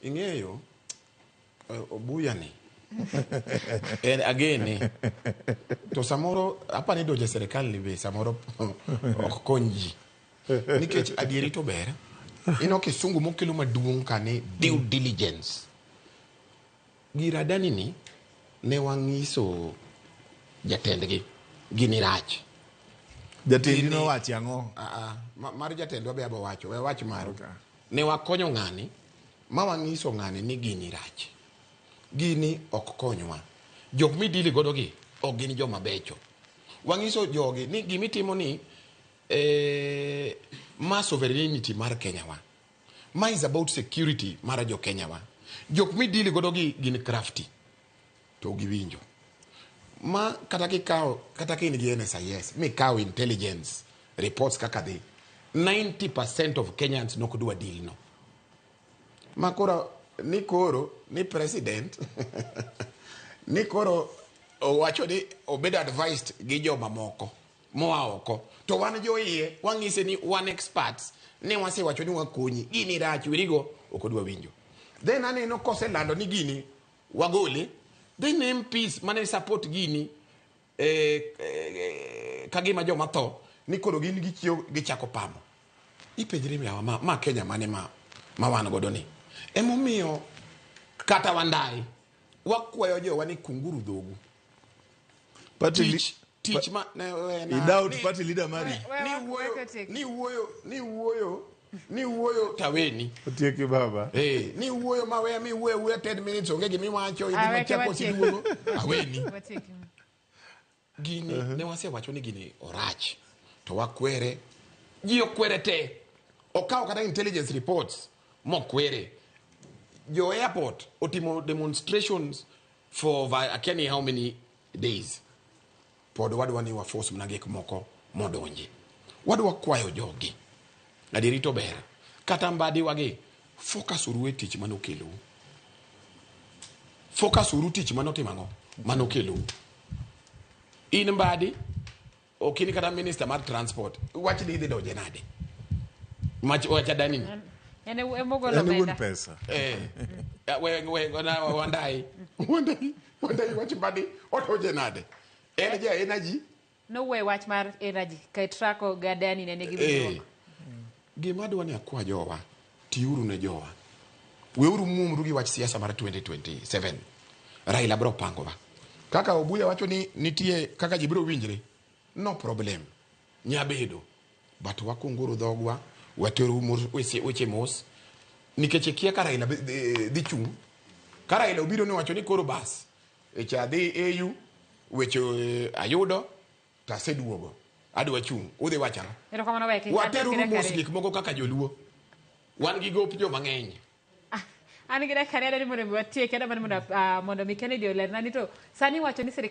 Ing'eyo eh, obuya ni en agene to samoro apa ni donje serikal ni be samoro ok kony ji nikech adieri to ber ino kisungu mokelo maduong' ka ni due diligence giradani ni ne wang'iso jatendgi gini rach Jatendi Gini- nowachi ang'o? Ah, ah, ma- mar jatendwa be abo wacho we wach maru Ne wakonyo ng'ani ma wang'iso ng'ani ni gini rach. Gini ok konywa. Jok midili godo gi ok gin joma becho. Wang'iso jogi ni gima itimo ni eh, ma sovereignty mar Kenya wa. Ma is about security mar jo Kenya wa. Jok midili godo gi gin crafty. to giwinjo ma kata kikawo kata ka in gi NSIS mikawo intelligence reports kaka dhi 90% of Kenyans nok dwa deal no ma koro ni koro ni president ni koro owacho ni obed advised gi jomamoko moa oko to wan joiye wang'ise ni wan experts ne wasewacho ni wakonyi gini rach wirigo ok odwa winjo then aneno koselando ni gini wagole they name peace mane support gini eh, eh, kagima joma tho ni koro gin gichiew gichako pamo ipenjri miawa ma, ma kenya mane ma, ma wan godo ni emomiyo kata wandayi wakwayo jowa ni kunguru dhogu Patrick, Tich. tich ma ne wena. Idao to party leader mari. Ni wuoyo, ni wuoyo, ni wuoyo. Ni wuoyo taweni. Otieki baba. Eh, hey, ni wuoyo ma weya mi wuoyo wuoyo 10 minutes onge gimi wacho ibi ma chako si duogo. Aweni. Gini uh -huh. ne wase wacho ni gini orach. To wakwere. Ji okwere te. Okawo kata intelligence reports mokwere. Jo airport otimo demonstrations for akia ni how many days pod wadwa ni wafos mana gik moko modonji wadwa kwayo jogi adieri to ber kata mbadiwagi focus uru e tich mane okelou focus uru tich mane otimo ang'o mane okelou in mbadi Ok in kata minister mar transport. Wach ni idhi donje nade? Mach wacha dani. En en e wuon omenda. pesa. Eh. We we gona wandai. Wandai. Wandai wach badi otoje nade? En ja energy. No we wach mar energy. Kai trako gadani ne nigi Eh. bidwoko. Gima adwa ni akwa jowa, tiuru ne jowa. Weuru muomru gi wach siasa mar 2027. Raila biro pangowa. Kaka Obuya wacho ni nitie kaka ji biro winjre, no problem. Nyabedo. But wakunguru dhogwa, wateru mos, weche, weche mos. Nikech ikia ka Raila bi- dhi dhi chung'. Ka Raila obiro ni wacho ni koro bas. Echa adhi AU, weche eh, ayudo, To aseduogo. Adwa chung'. Udhi wacho ang'o? Erokamano wek kik achoki Wateruru dakika mos ariyo. gik moko kaka joluo. Wan gi gop jo mang'eny. An gi dakika ariyo adwaro ni mondo mi watieki, adwaro mana mondo ah, mondo mi Kennedy olerna ni to sani iwacho ni sirkal